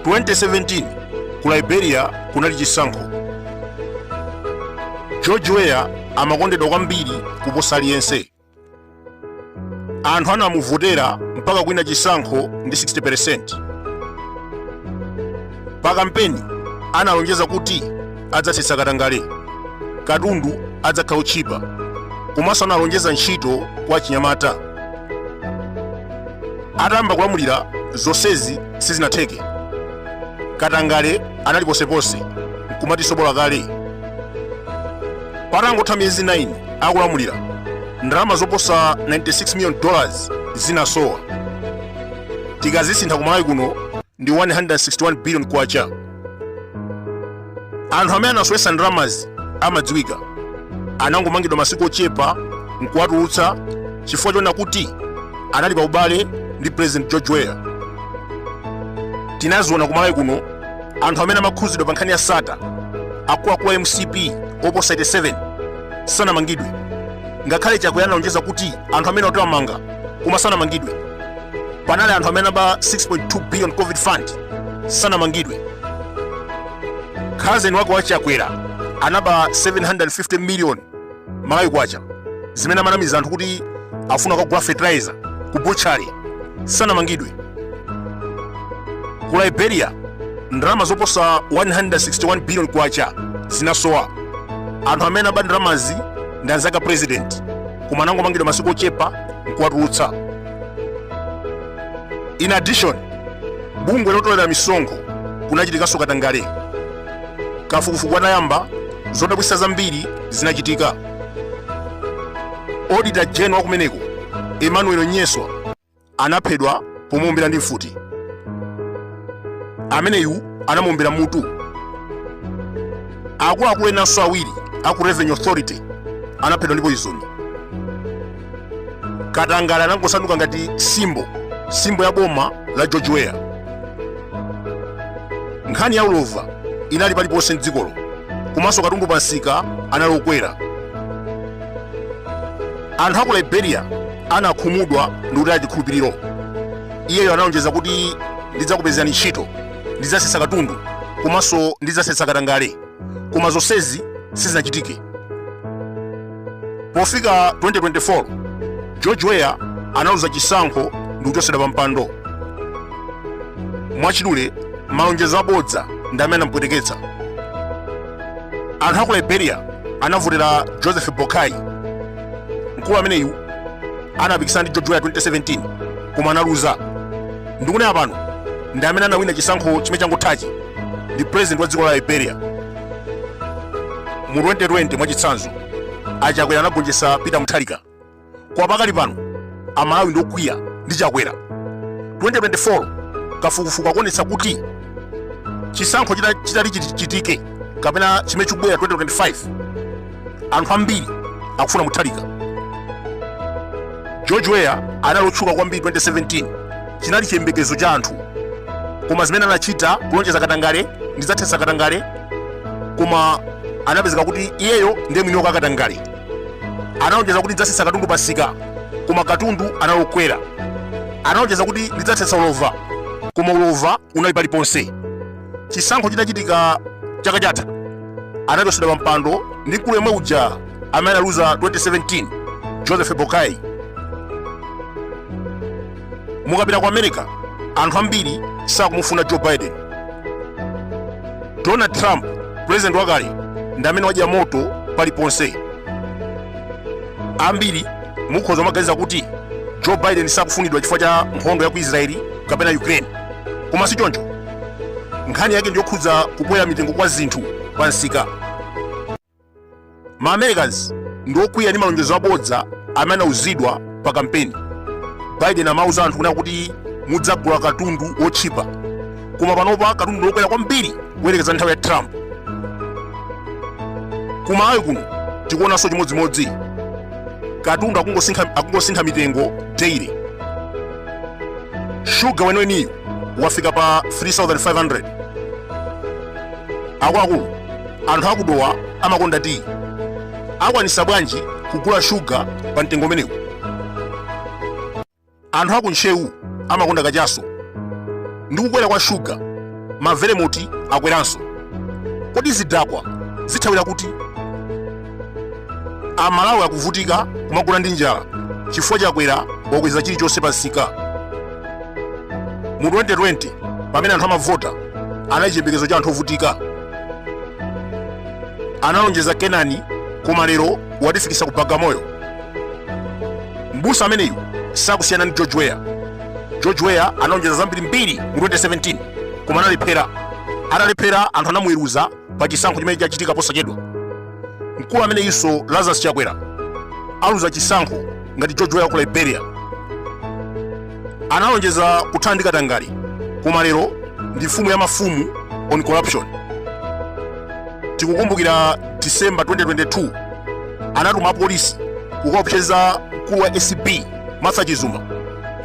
2017 ku liberia kunali chisankho george weah amakondedwa kwambiri kuposa aliyense anthu anamuvotera mpaka kuwina chisankho ndi 60% pa kampeni analonjeza kuti adzathetsa katangale katundu adzakhala otchipa komanso analonjeza ntchito kwa achinyamata atayamba kulamulira zonsezi sizinatheke katangale anali ponseponse nkumati sobola kale Patangotha miyezi 9 akulamulira, ndalama zoposa 96 million dollars zinasowa. Tikazisintha ku Malawi kuno ndi 161 billion kwacha. Anthu amene anasowetsa ndalamazi amadziwika. Anangomangidwa masiku ochepa nkuwatulutsa chifukwa choona kuti anali pa ubale ndi President George Weah. Tinaziona ku Malawi kuno anthu amene amakhuzidwa pa nkhani ya Sattar akuluakulu a mcp oposa 87 sanamangidwe ngakhale chakwera analonjeza kuti anthu amenewo awamanga koma sanamangidwe panali anthu amene anaba 6.2 billion covid fund sanamangidwe cousin wake wa chakwera anaba 750 million malawi kwacha zimene amanamiza anthu kuti afuna kukagula fertilizer ku butchery sanamangidwe ku liberia ndalama zoposa 161 billion kwacha zinasowa anthu amene aba ndalamazi ndi anzake a president koma anangomangidwa masiku ochepa nkuwatulutsa in addition ku bungwe lotolera misonkho kunachitikanso katangale kafukufuku anayamba zodabwitsa zambiri zinachitika auditor general wa kumeneko emmanuel nyeswa anaphedwa pomuombera ndi mfuti ameneyu anamuombera m'mutu akuluakulu enanso awiri aku revenue authority anaphedwa ndi poison katangale anangosanduka ngati symbol symbol ya boma la george weah nkhani ya ulova inali paliponse mdzikolo komanso katundu pa nsika anali okwera anthu aku liberia anakhumudwa ndi kutaya chikhulupiriro iyeyo analonjeza kuti ndidzakupezerani ntchito ndidzatsitsa katundu komanso ndidzathetsa katangale koma zonsezi sizinachitike pofika 2024 george weah analuza chisankho ndi kuchotsedwa pa mpando mwachidule malonjezo abodza ndi amene anamupweteketsa anthu aku liberia anavotera joseph boakai mkulu ameneyu anapikisana ndi george weah 2017 koma analuza ndikunena pano ndi amene anawina chisankho chimene changothachi ndi president wa dziko la liberia mu 2020 mwachitsanzo achakwera anagonjetsa peter mutharika koma pakali pano amalawi ndi okwiya ndi chakwera 2024 kafukufuku akuonetsa kuti chisankho chitati chitike kapena chimene chikubwera 2025 anthu ambiri akufuna mutharika george weah anali otchuka kwambiri 2017 chinali chiyembekezo cha anthu koma zimene anachita kulonjeza katangale ndidzathetsa katangale koma anapezeka kuti iyeyo ndiye mwini wa katangale analonjeza kuti ndidzatsitsa katundu pansika koma katundu anali okwera analonjeza kuti ndidzathetsa ulova koma ulova unali paliponse chisankho chitachitika chaka chatha anachotsedwa pa mpando ndi mkulu yemwe uja amene analuza 2017 joseph boakai mukapita ku america anthu ambiri sakumufuna joe biden donald trump pulezidenti wakale ndi amene wadya moto paliponse ambiri mukhoza kumaganiza kuti joe biden sakufunidwa chifukwa cha nkhondo ya ku israeli kapena ukraine koma si choncho nkhani yake ndiyokhudza kukwera mitengo kwa zinthu pa nsika ma americans ndiokwiya ndi malonjezo abodza amene anauzidwa pa kampeni biden amauza anthu kunena kuti mudzagula katundu wotchipa koma panopa katundu ndiokwera kwambiri kuyerekeza nthawi ya trump ku malawi kuno tikuonanso chimodzimodzi katundu akungosintha mitengo daily shuga weniweniyu wafika pa 3500 akuluakulu anthu akudowa amakonda tiyi akwanisa bwanji kugula shuga pa mtengo umenewu anthu aku ntcheu amakonda kachaso ndi kukwera kwa shuga mavelemoti akweranso kodi zidakwa zithawira kuti amalawi akuvutika kumagona ndi njala chifukwa chakwera wakweza chilichonse pansika mu 2020 pamene anthu amavota anali chiyembekezo cha anthu ovutika analonjeza kenani koma lero watifikitsa ku bagamoyo mbusa ameneyu sakusiyana ndi george weah george weah analonjeza zambirimbiri mu 2017 koma analephera atalephera anthu anamuweruza pa chisankho chimene chachitika posachedwa mkulu ameneyinso lazarus chakwera aluza chisankho ngati george weah ku liberia analonjeza kuthana ndi katangale koma lero ndi mfumu ya mafumu on corruption tikukumbukira december 2022 anatuma apolisi kukaopseza mkulu wa acb martha chizuma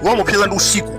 kukamupseza ndi usiku